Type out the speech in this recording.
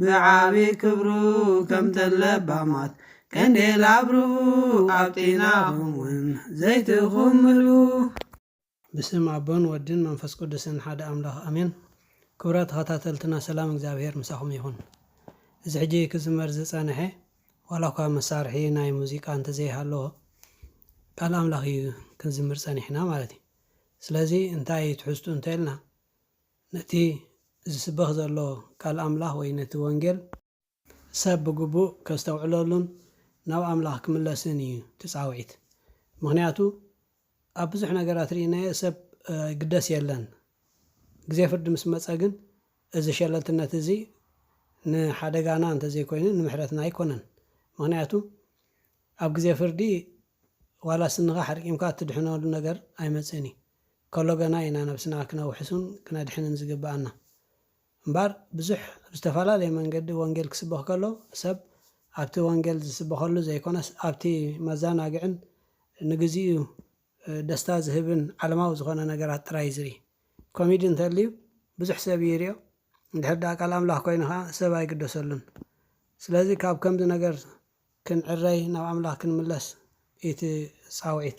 ብዓቢ ክብሩ ከምተን ለባማት ቀንዴል ኣብርሁ ኣብ ጢናኹም ውን ዘይትኹም ምልኡ። ብስም ኣቦን ወድን መንፈስ ቅዱስን ሓደ ኣምላኽ ኣሜን ክብራት ተኸታተልትና ሰላም እግዚኣብሔር ምሳኹም ይኹን እዚ ሕጂ ክዝመር ዝጸነሐ ዋላኳ መሳርሒ ናይ ሙዚቃ እንተዘይሃለዎ ቃል ኣምላኽ እዩ ክንዝምር ጸኒሕና ማለት እዩ ስለዚ እንታይ እዩ ትሕዝቱ እንተልና ነቲ ዚስበኽ ዘሎ ቃል ኣምላኽ ወይ ነቲ ወንጌል። ሰብ ብግቡእ ኬስተውዕለሉን ናብ ኣምላኽ ኪምለስን እዩ እቲ ጻውዒት። ምኽንያቱ ኣብ ብዙሕ ነገራት ርኢናዮ ሰብ ይግደስ የለን። ግዜ ፍርዲ ምስ መጸ ግን እዚ ሸለልትነት እዚ ንሓደጋና እንተ ዘይኮይኑ ንምሕረትና ኣይኮነን። ምኽንያቱ ኣብ ግዜ ፍርዲ ዋላስ እንኻዕ ኣሕርቂምካ እትድሕነሉ ነገር ኣይመጽእን እዩ። ከሎ ገና ኢና ነብስና ክነውሕሱን ክነድሕንን ዝግብኣና። እምባር ብዙሕ ብ ዝተፈላለየ መንገዲ ወንጌል ክስበኽ ከሎ ሰብ ኣብቲ ወንጌል ዝስበኸሉ ዘይኮነስ ኣብቲ መዛናግዕን ንግዚኡ ደስታ ዝህብን ዓለማዊ ዝኾነ ነገራት ጥራይ ዝርኢ። ኮሚዲ እንተልዩ ብዙሕ ሰብ ይሪኦ እንድሕር ድኣ ቃል ኣምላኽ ኮይኑ ከኣ ሰብ ኣይግደሰሉን። ስለዚ ካብ ከምዚ ነገር ክንዕረይ ናብ ኣምላኽ ክንምለስ ኢዩ እቲ ጻውዒት።